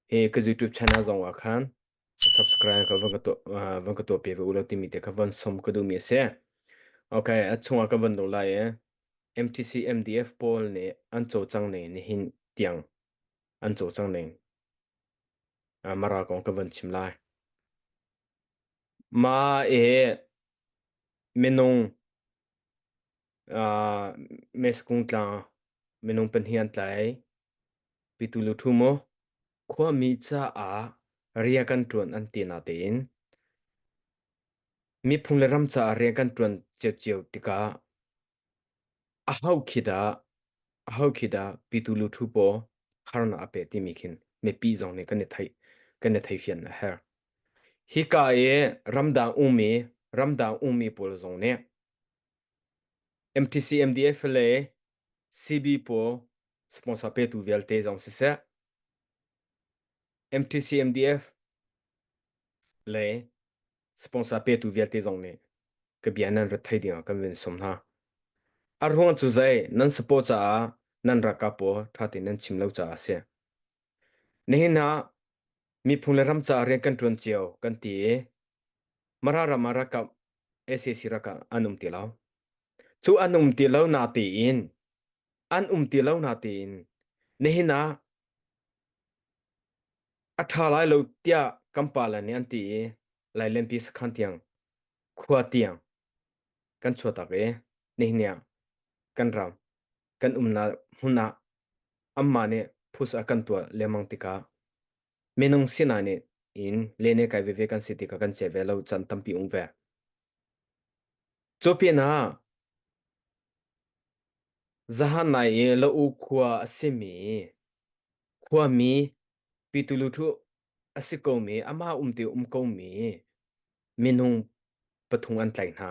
E ka YouTube channel zong ah khan subscribe ka van ka tuah uh, van ka tuah pe ve u law timi te kha van som ka duh mi a si. Okay, a chungah ka van lut lai e. MTC MDF pawl nih an co cang ning nihin tiang an co cang ning. Uh, mara kong ka van chim lai. Ma e minung Ah, mes kung tlang minung pahnih an tlai pitu lu thu mo khuami caah ria kan tuan an ti na tein miphung le ram caah ria kan tuan cio cio tikah a hau khida a hau khida pitu lu thu po harna a pe timi khin mepi zong nih kan i thei kan i thei fian a herh Hika i ramdang ummi ramdang ummi pawl zong nih MTC, MDFLA, CB pawl sponsor petu vialte zong siseh, MTC, MDF le sponsor petu vialte zong nih ka bia nan rat thai dingah kan vun sum hna. A ruang cu zei nan support caah nan ralkap pawl ṭha tein nan chim lo caah a si. Nihin ah Miphung le ram caah rian kan ṭuan cio kan ti i Mara ram ah ralkap SAC ralkap an um ti lo. Cu an um ti lo na tein an um ti lo na tein nihin ah a ṭha lai lo tiah kan pale nih an ti i lailenpi sakhan tiang khua tiang kan chuahtak i nihin ah kan ram kan umnak hmun ah anmah nih phus a kan tuah lengmang tikah minung sinah nih in lene kai veve kan si tikah kan che ve lo can tampi um ve. Cu pin ah zahan nai i lo u khua a simi khuami pitulu thu a si komi amah umti um komi minung pathum an tlai hna.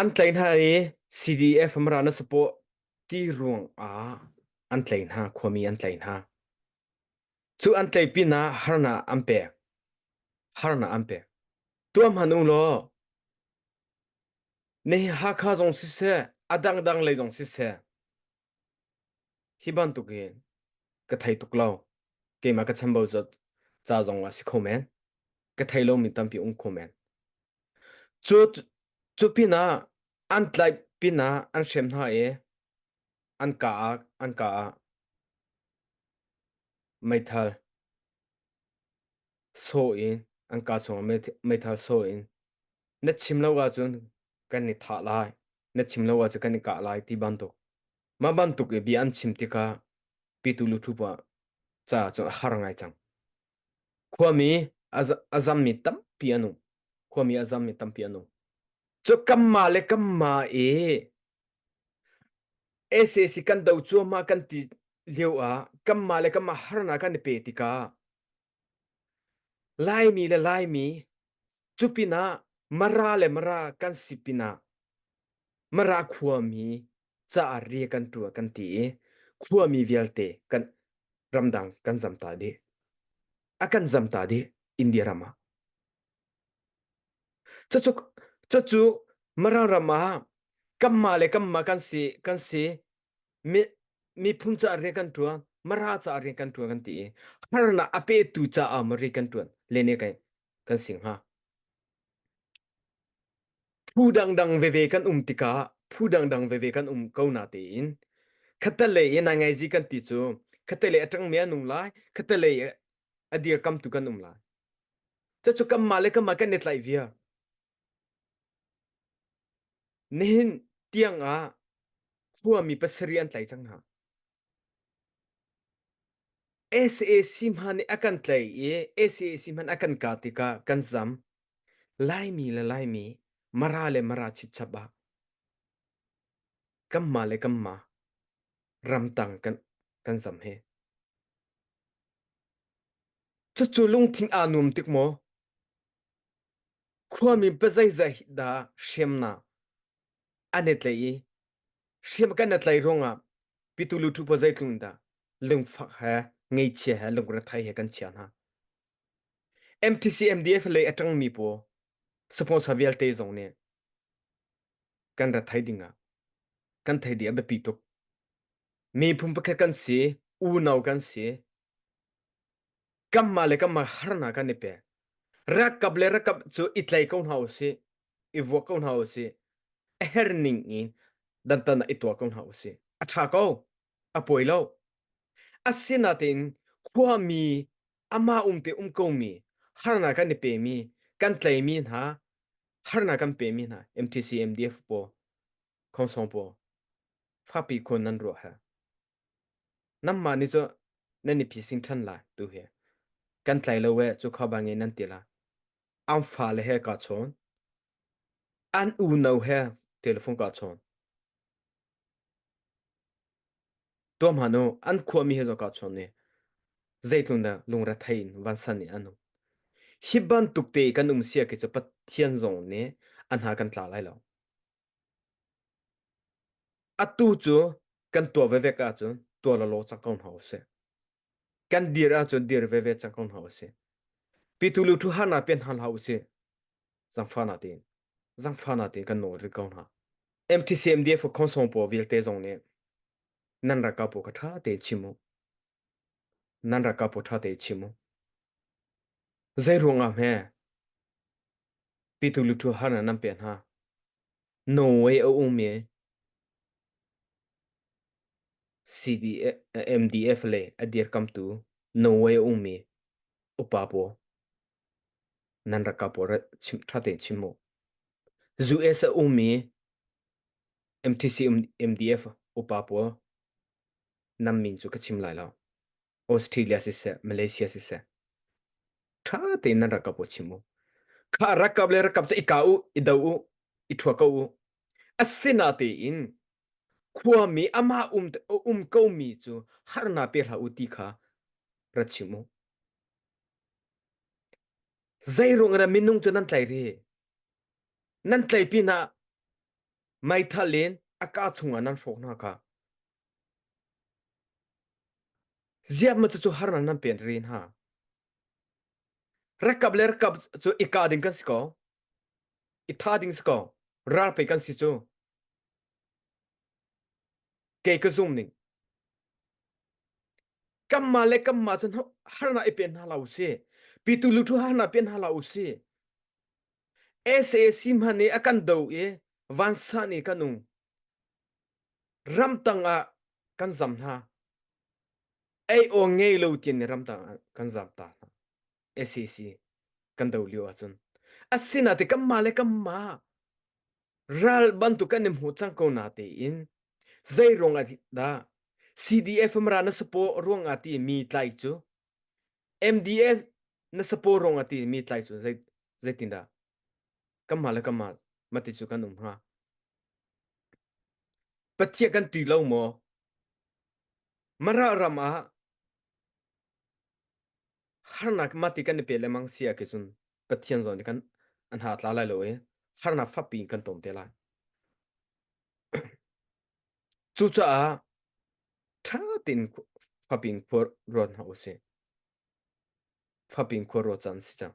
An tlaih hna i CDF mara na sapaw ti ruang ah an tlaih hna, khuami an tlaih hna. Cu an tlaih pinah harnak an pek. Harnak an pek. Tuah hmanh u law na hi Hakha zong siseh, a dangdang lei zong siseh, Hi bantuk in ka thei tuk lo. Keimah ka chambau ca ca zong ah si kho men. Ka thei lomi tampi um kho men. Cu cu pinah an tlaih pinah an hrem hna i an ka ah an ka ah meithal. sawh in an ka chung meithal sawh in na chim lo ahcun kan i thah lai na chim lo ahcun kan i kah lai ti bantuk mah bantuk i bia an chim tikah pitu lu phu ca cun a har ngai cang khuami a zammi tampi an um khuami a zammi tampi an um cu kanmah le kanmah i SAC kan do cuahmah kan ti lio ah kanmah le kanmah harnak kan i pe tikah Laimi le Laimi cu pinah Mara le Mara kan si pinah Mara khuami caah ri kan ṭuah kan ti i khuami vialte kan ramdang kan zam ta dih. A kan zam ta dih India ram ah. Cucu cucu Mara ram ah kanmah le kanmah kan si kan si miphun caah rian kan ṭuan mara caah rian kan ṭuan kan ti i harnak a petu caah maw rian kan ṭuan le ne kan kan sing hnga phu dangdang veve kan um tikah phu dangdang veve kan um ko na tein khatalei i nai ngaizi kan ti cu khatalei a ṭangmi an um lai khatalei a dir kamtu kan um lai ca cu kanmah le kanmah kan i tlaih via Nihin tiangah khuami pasarih an tlai cang hna. SAC hman nih a kan tlaih i SAC hman a kan kah tikah kan zam. Laimi le Laimi, Mara le Mara chipchap ah kanmah le kanmah ramtang kan kan zam hi. Cucu lungthin aa nuam tik maw? Khuami pa zeizat dah hriamnak an i tlaih i hriam kan i tlaih ruangah pitu luthu pa zeitlung dah lungfak he ngeichia he lungrethei he kan chia hna. MTCMDF lei a ṭangmi pawl sponsor vialte zong nih kan ra thai dingah kan thei dih a biapi tuk. Miphun pakhat kan si, unau kan si, Kamma le kamma harnak kan i pek. Rakap le rakap cu i tlei ko hna u si. I vuak ko hna u si. A her ning in dantan i tua ko hna u si. A tha ko. A poi lo. Asinain khuami amah umte um komi harnak kan i pemi kan tleimi hna harnak kan pemi hna MTC MDF pawl Khonsong pawl fapi khun nan ruah ha. Namma ni cu nan i phising ṭhan lai tu hi. Kan tlai lo we cu kha bang in nan ti la. An fa le he ka chawn. An unau he telephone ka chawn. Tua ma nu an khua mi he zo ka chawn ni. Zeitlun da lungre thai in van san ni anu. Hi bantuk te kan um sia ke cu Pathian zong nih an ha kan tla lai lo. Atu cu kan tuah vevek ahcun tuah lawlaw cang ko hna usih. Kan dir ahcun dir veve cang ko hna usih. Pitu lu thu harna pen hna hlah usih. Zangfana tin. Zangfana tin kan nawl rit ko hna. MTCMD for konsong po vialte zong nih nan raka po ka tha te chimu. Nan raka po tha te chimu. Zai ruangah me Pitu lutu harnak nan pek hna. Norway a ummi CDF le a dirkamtu Norway a ummi upa pawl nan raka pawl ra chim ṭha tein chim u. US a ummi MTC MDF upa pawl nan min cu ka chim lai lo. Australia siseh, Malaysia siseh, ṭha tein nan rakap u chim u. Kha rakap le rakap cu i ka u, i do u, i thua ko u. Asinatein khuami amah um um komi cu harnak pe hlah u ti kha ra chim u. Zeiruang in minung cu nan tlai rih? Nan tlai pinah meithal in a ka chungah nan hrawk hna kha Ziah ma cucu harnak nan pen ri hna? Rakap le rakap cu i kah ding kan si ko. I tha ding si ko. Ral pe kan si cu. Kei ka zum ning. Kamma le kamma cun harnak i pen hna la u si. Pitu lutu harnak pen hna la u si. SAC hman i a kan do i vansa ni kan um. ramtang ah kan zam hna ei aw ngei lo tin ne ramtang ah kan zam ta hna SAC kan do lio ahcun asina te kanmah le kanmah ral bantuk kan hmu cang ko na te in zeiruang ah dah CDF mra na sapo ruang ah ti mi tlai cu MDF na sapo ruang ah ti mi tlai cu zei zeitin dah kanmah le kanmah mati cu kan um hnga Pathian kan ti lo maw? Mara ram ah harnak mati kan i pe lengmang sia ke cun Pathian zawn nih kan an ha tla lai lo i harnak fakpi in kan ton te lai. Cucaah ṭha tein fapin khuar ruat hna u sih. Fapin khuar ruat can si cang.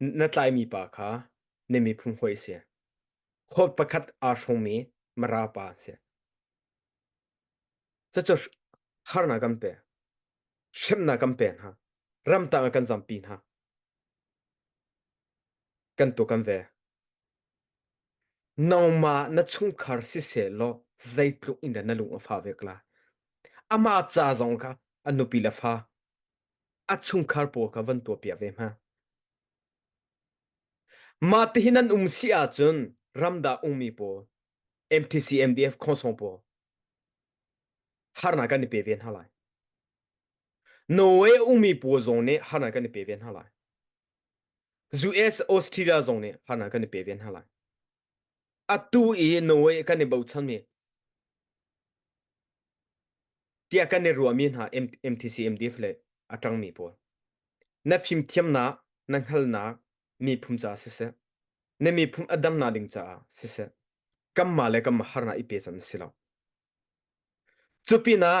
na tlaimi pa kha na miphun hawi a si. Khawt pakhat aa hrawngmi mara pa a si. Cucu harnak kan pe. Hremnak kan pe hna. Ramtang ah kan zampi hna. Kan tu kan ve. Nongma na chungkhar siseh law zeitluk in dah na lung a fa ve kla. Amah ca zong kha a nupi le fa a chungkhar pawl kha van tuahpiak ve hna. Mah tihin an um si ahcun ramdah ummi pawl MTC MDF khonsong pawl harnak kan i pe ve hna lai. Norway ummi pawl zong nih harnak kan i pe ve hna lai. US Australia zong nih harnak kan i pe ve hna lai. Atu i Norway kan i bochanmi tiah kan i ruahmi hna MTC MDF le a ṭangmi pawl na fimthiamnak na hngalnak miphun caah siseh na miphun a damnak ding caah siseh kanmah le kanmah harnak i pechan a si lo. Cu pinah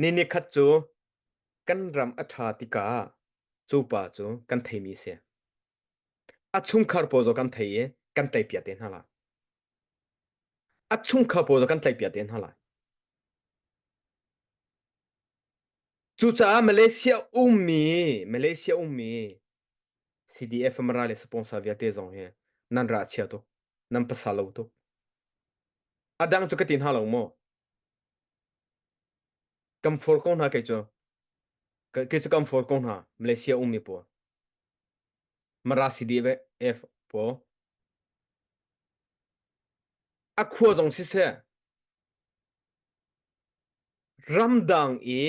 Ni nikhat cu kan ram a ṭha tikah cupa cu kan theimi a si. A chungkhar pawl zaw kan thei i kan tleipiak te hna lai. A chungkhar pawl zaw kan tleipiak te hna lai. Cucaah Malaysia ummi Malaysia ummi CDF Amara le sponsor vialte zong hi nan ra chia tuk. Nan pasal lo tuk. A dang cu ka ti hna lo maw? Kan for ko hna kei cu. Kei cu kan for ko hna. Malaysia ummi pawl. Marasi deve ef po. A khua zong siseh. Ramdang i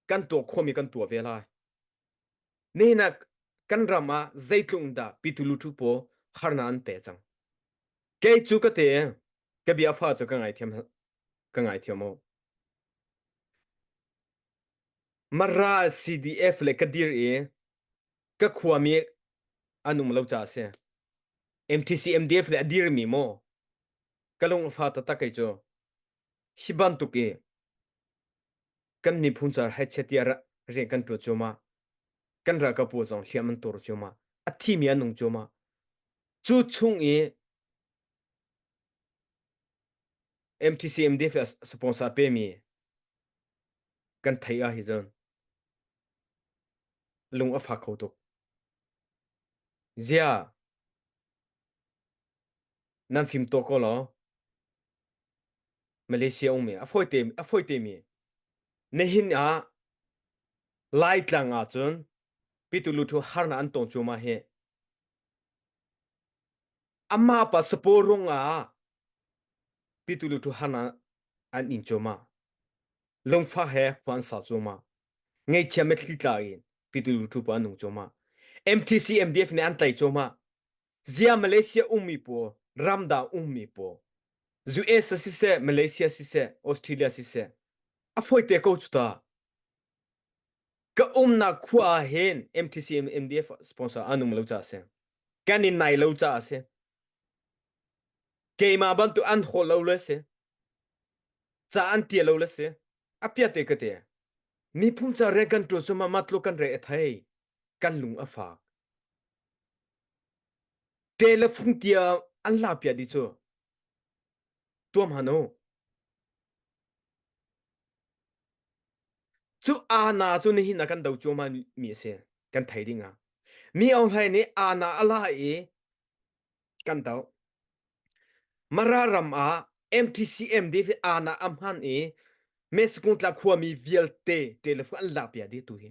kan tuah khomi kan tuah ve lai. Nihin ah kan ram ah zeitlung dah pitulu thu paw harna an pe cang. Kei cu ka te ka bia fa cu ka ngai thiam ka ngai thiam o. Mara CDF le ka dir i ka khua mi anum lo cha se. MTC MDF le a dir mi mo ka lung fa ta ta kai cu Hi bantuk i kan miphun caah haichia tiah rian kan ṭuan cuahmah. Kan ralkap pawl zong hliam an tur cuahmah. A thimi an nung cuahmah. Cu chung i MTC MDF le sponsor pemi kan thei ah hi cun lung a fak kho tuk. Zia nan fim to ko law Malaysia um mi a fawite a fawite mi nihin ah Laitlang ah cun Pitulu harnak an tong cuahmah hi amah pa sapaw rung ah Pitulu harnak an in cuahmah lungfak he khua an sa cuahmah ngeichia mitthli tla in Pitulu pa an nung cuahmah MTC MDF nih an tlaih cuahmah Zia Malaysia ummi pawl ramdang ummi pawl US siseh Malaysia siseh Australia siseh a foite ko cu ta ka umnak khua ah hin MTC MDF sponsor an um lo ca a si kan in nai lo ca a si keimah bantuk an hawl lo le si ca an tia lo le si a piate ka te niphung ca rian kan tuan cu ma matlo kan re a thei kan lung a fak ṭe le fung tia an la pia di cu tuam hano cu ana cu nihin a kan do cuama mi a si kan thei ding a mi ong hlai nih ana a la i kan do mara ram ah MTCM di fi ana am han i meskung tla khua mi vialte ṭe le fung an la pia di tu hi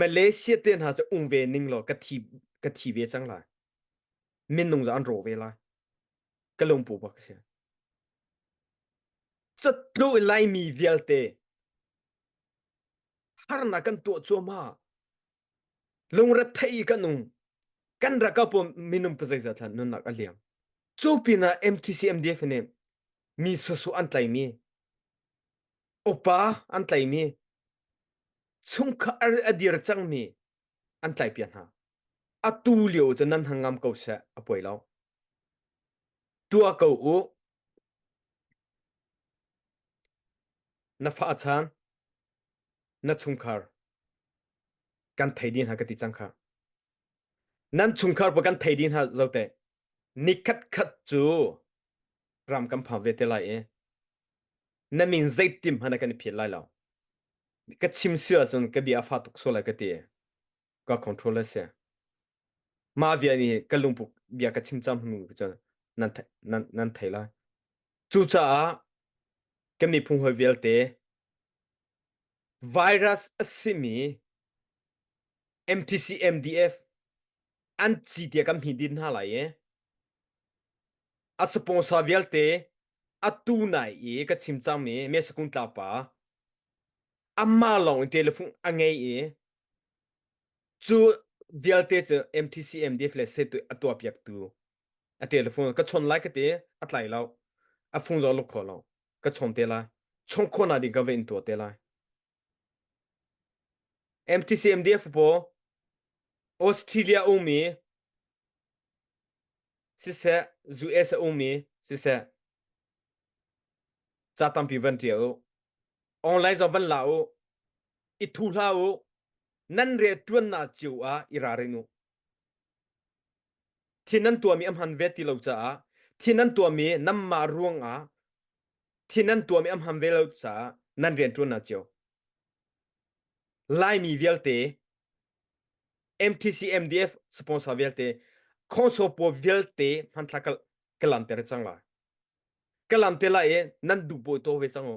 Malaysia te hna cu ung ve ning law ka thi ka thi ve cang lai minung za an ro ve lai ka lungpu bak si cutlu i laimi vialte harnak kan tuah cuahmah lungrethei kan nung kan rakap minung pazaiza thlan nunnak a liang cu pinah MTCMDF nih mi susu an tlaimi upa an tlaimi chungkhar a dir cangmi an tlaipiak hna atu lio cu nan han ngam ko seh a poi lo tua ko u na fa chan na chungkhar kan thei din ha ka ti cang kha nan chungkhar pa kan thei din ha zote ni khat khat cu ram kan pha ve te lai e na min zeitim hmanh kan i phit lai lo ka chim si ahcun ka bia a fa tuk so lai ka ti ka control a si mah bia nih ka lungput bia ka chim cang hnu cun nan nan nan thei lai cucaah ka miphung hawi vialte virus a simi MTC MDF an ci tia kan hmi din hna lai i A sponsor vialte atu nai i ka chim cangmi Mesakung tlangpa amah lawng in telephone a ngei i cu vialte cu MTC MDF le setu a tuah piaktu a telephone ka chon lai ka te a tlai lo a fung zo luk kho lo ka chon te lai chon khawna ding ka va in tuah te lai MTCMDF paw Australia ummi siseh US a ummi siseh ca tampi van ṭial u. Online zong van la u. I thu hla u. Nan rian ṭuannak cio ah i ralrin u. Thin an tuahmi a hman ve ti lo caah thin an tuahmi namma ruangah thin an tuahmi a hman ve lo caah nan rianṭuan ah cio. Laimi vialte MTC MDF sponsor vialte khonsopo vialte hmantla ka ka lanter cang lai. Ka lamte lai i nan duh bawi to ve cang u.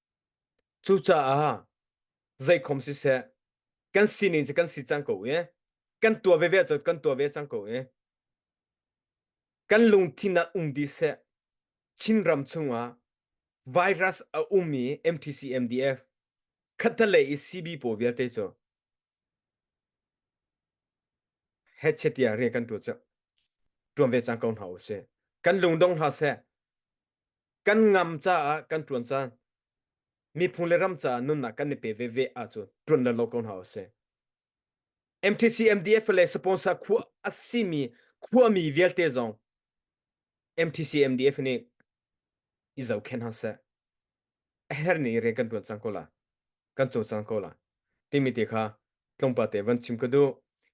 Cucaah zeikhom siseh kan sining cu kan si cang ko i kan tua veve cu kan tua ve cang ko i kan lungthin ah um dih seh Chinram chungah virus a um i MTC MDF khattalei i CB pawl vialte cu hechetia rian kan tuah cu tuan ve cang ko hna u sih kan lungdong hna seh kan ngam caah kan tuan caan miphung le ram caah nunnak kan i pe ve ve ah cu tuan le lo ko hna u sih MTC MDF le sponsor khua asimi khuami vialte zong MTC MDF nih i zohkhen hna seh a her ni rian kan tuan cang ko la kan cawlcang ko lai timi te kha tlawmpal te van chim ka duh.